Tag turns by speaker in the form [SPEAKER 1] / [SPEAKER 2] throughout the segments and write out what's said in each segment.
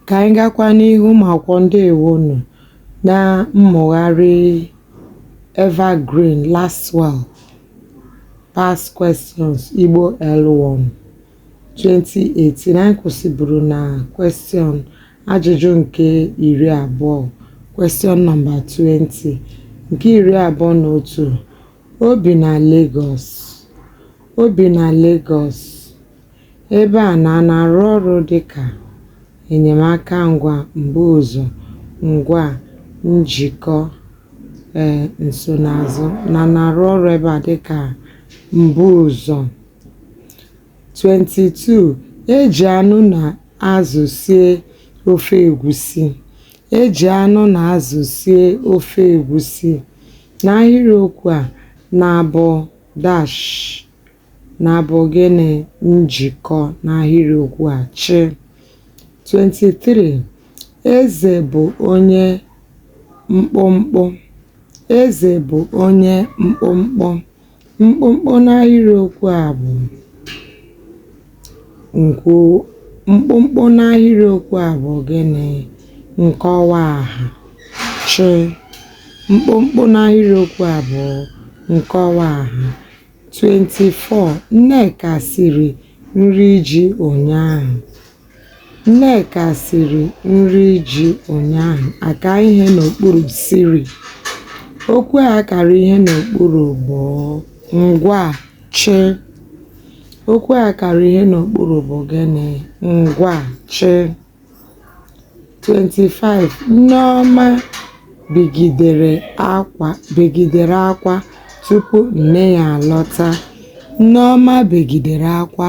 [SPEAKER 1] ka anyị gakwa n'ihu ụmụ akwụkwọ ndewonu na mmụgharị evergreen lasswell past questions igbo l1 2018, anyị kwụsịburu na Question ajụjụ nke 20, Question number 20, nke 21, O bi na Lagos O bi na Lagos Ebe a na a na-arụ ọrụ dị ka enyemaka ngwa mbuụzọ ngwa njikọ ee nsonaazụ na na-arụ ọrụ ebe a dị ka mbuụzọ 22. e jì anụ nà azụ̀ sie ofe ègusi e jì anụ nà azụ̀ sie ofe ègusi n'ahịrịokwu à nà bụ̀ dash nà bụ̀ gịnị njìkọ n'ahịrịokwu à chị 23. ezè bụ̀ onye mkpụmkpụ ezè bụ̀ onye mkpụmkpụ Mkpụmkpụ n'ahịrịokwu a bụ nkọ mkpụmkpụ n'ahịrịokwu a bụ gịnị? Nkọwa aha chị mkpụmkpụ n'ahịrịokwu a bụ nkọwa aha 24 Nneka siri nri ji ụnyaahụ. Nneka siri nri ji ụnyaahụ a ka ihe n'okpuru siri. Okwu a kara ihe n'okpuru bụ ngwaa chị. Okwu a kara ihe n'okpuru bụ gịnị? Ngwaa chị. 25, Nneọma bigidere akwa begidere akwa tupu nne ya alọta. Nneọma begidere akwa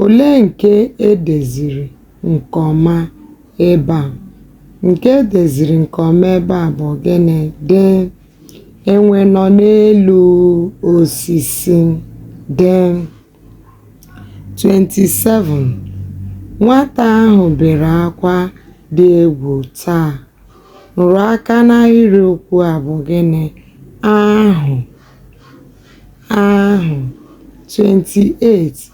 [SPEAKER 1] Olee nke e deziri nke ọma ebe a? Nke e deziri nke ọma ebe a bụ gịnị? Dị enwe nọ n'elu osisi. Dị 27 nwata ahụ bere akwa dị egwu taa. Nrụaka n'ahịrịokwu a bụ gịnị? Ahụ. ahụ. 28,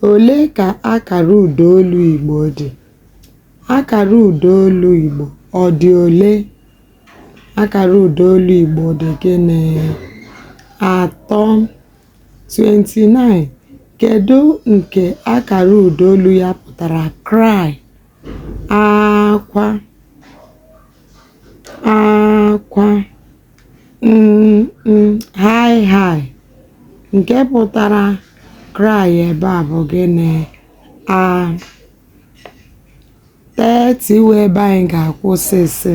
[SPEAKER 1] Olee ka akara ụda olu Igbo dị? Akara ụda olu Igbo ọ dị ole? Akara ụda olu Igbo dị gịnị? Atọ. 29, Kedu nke akara ụda olu ya pụtara cry? Akwa. Akwa. High high nke pụtara cry ebe a bụ gịnị? A 30 wụ ebe anyị ga-akwụsị sị,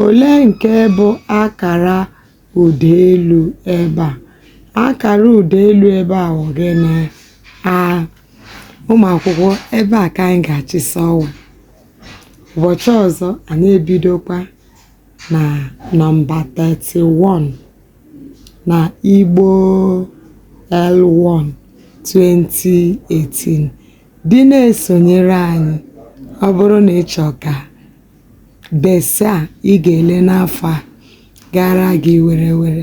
[SPEAKER 1] olee nke bụ akara ụda elu ebe a? Akara ụda elu ebe a bụ gịnị? A Ụmụ akwụkwọ ebe a ka anyị ga-achịsa ọwa. Ụbọchị ọzọ anyị ebidokwa na nọmba 31 na Igbo L1 2018 dị na-esonyere anyị ọ bụrụ na ị chọọ ka BECE a ị ga-ele n'afọ a gaara gị were were.